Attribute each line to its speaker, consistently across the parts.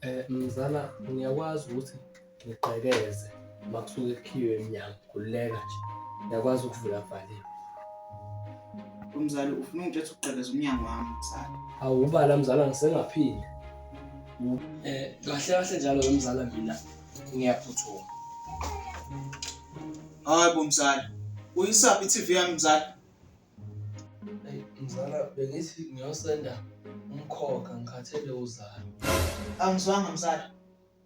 Speaker 1: Eh,
Speaker 2: mzala ngiyakwazi ukuthi ngigqekeze uma kusuke kukhiwe emnyango khululeka nje ngiyakwazi ukuvula kuvaliwe umzali
Speaker 1: ufuna ungitshela ukugqekeza umnyango wami mzali awubala mzala
Speaker 2: ngisengaphinde um kahle kahle njalo wemzala mina ngiyaphuthuma
Speaker 1: hayi bo mzali uyisaphi i-tv yami mzali Eyi
Speaker 2: mzala bengithi ngiyosenda umkhokha ngikhathele uzalo. Angizwanga
Speaker 1: mzala.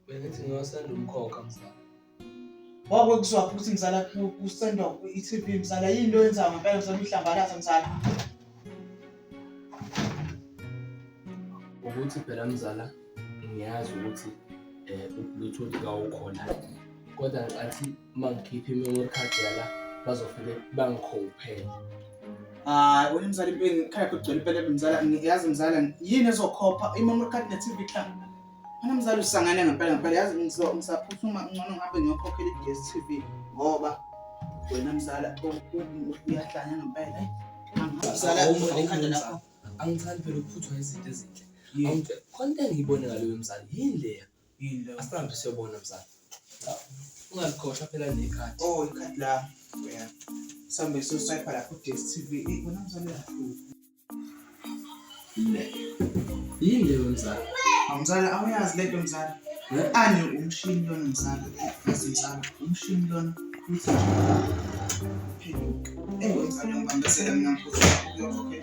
Speaker 1: Bengithi
Speaker 2: ngiyosenda umkhokha mzala. Wako
Speaker 1: kuzwa futhi mzala kusendwa i-TV mzala yini into yenza ngempela mzala uhlambalaza mzala.
Speaker 2: Ukuthi phela mzala ngiyazi ukuthi eh u-bluetooth kawukhona kodwa ngicathi uma ngikhipha i-memory card yala bazofike bangikhophele
Speaker 1: hayi wena mzala impeni khaya kugcwele impela mzala yazi mzala yini ezokhopha i-memory card ne-tv club mana mzala usangane ngempela ngempela yazi ngisaphuthuma ngcono ngihambe ngiyokhokhela i-dstv ngoba wena mzala uyahlanya ngempela mzala ekhanda lakho angithandi phela
Speaker 2: ukuphuthwa izinto ezinhle khona into engiyibone ngaloyo mzala yini leya Yini leyo? Asihambe
Speaker 1: siyobona mzala.
Speaker 2: Ungazikhohlwa phela nekhadi. Oh, ikhadi la.
Speaker 1: Yeah. Sambe so swipe la ku DStv. Eh, bona mzala yakhulu. Le.
Speaker 2: Yini leyo mzala? Mzala awuyazi
Speaker 1: lento mzala. Ani umshini lona mzala. Yazi mzala, umshini lona. Uthi. Phenduka. Eh, mzala ngibambesele mina mkhulu. Okay.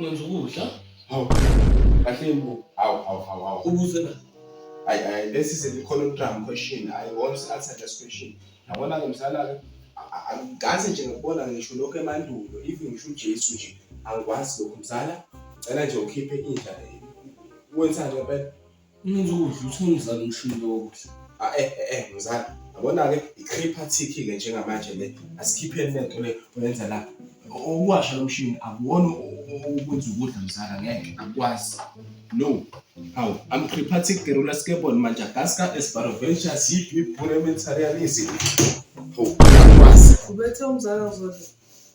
Speaker 2: Ngenza ukudla. Hawu.
Speaker 3: Kahle mbu. Hawu hawu hawu hawu. Ubuze na?
Speaker 2: I, I, this
Speaker 3: is a econogram question. I always answer this question. Yabona-ke msana-ke angikaze nje ngikubona ngisho lokhu emandulo even ngisho ujesu nje angikwazi lokhu mzala cela nje ukhiphe inja wenzani ngempela Umuntu ukudla
Speaker 2: uthi umzali umshini lokudla. Ah, eh, eh, eh, mzali
Speaker 3: yabona-ke i-creeper tick-ke njengamanje le asikhipheni le nto le oyenza la ukuwasha lo mshini akuwona ukwenza ukudla mzala ngeke akwazi no hawu am creeper tick the ruler skateboard madagascar esbaroventures yip yip bunementarialism hawu akwazi ubethe umzala
Speaker 2: uzodla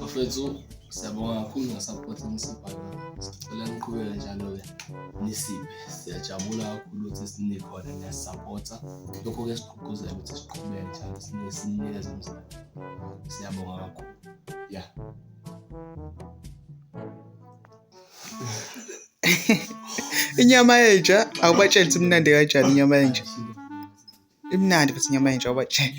Speaker 2: Bafethu siyabonga kakhulu ngesupport enisipha yona. Sicela niqhubeke njalo-ke nisiphe. Siyajabula kakhulu ukuthi sinikhona niyasisapota. Lokho kuyasiqhugquzela ukuthi siqhubeke njalo sine- sininikeze umzimba. Siyabonga kakhulu. Yeah.
Speaker 1: inyama yenja awubatsheli ukuthi imnandi kanjani inyama yenja imnandi futhi inyama yenja awubatsheli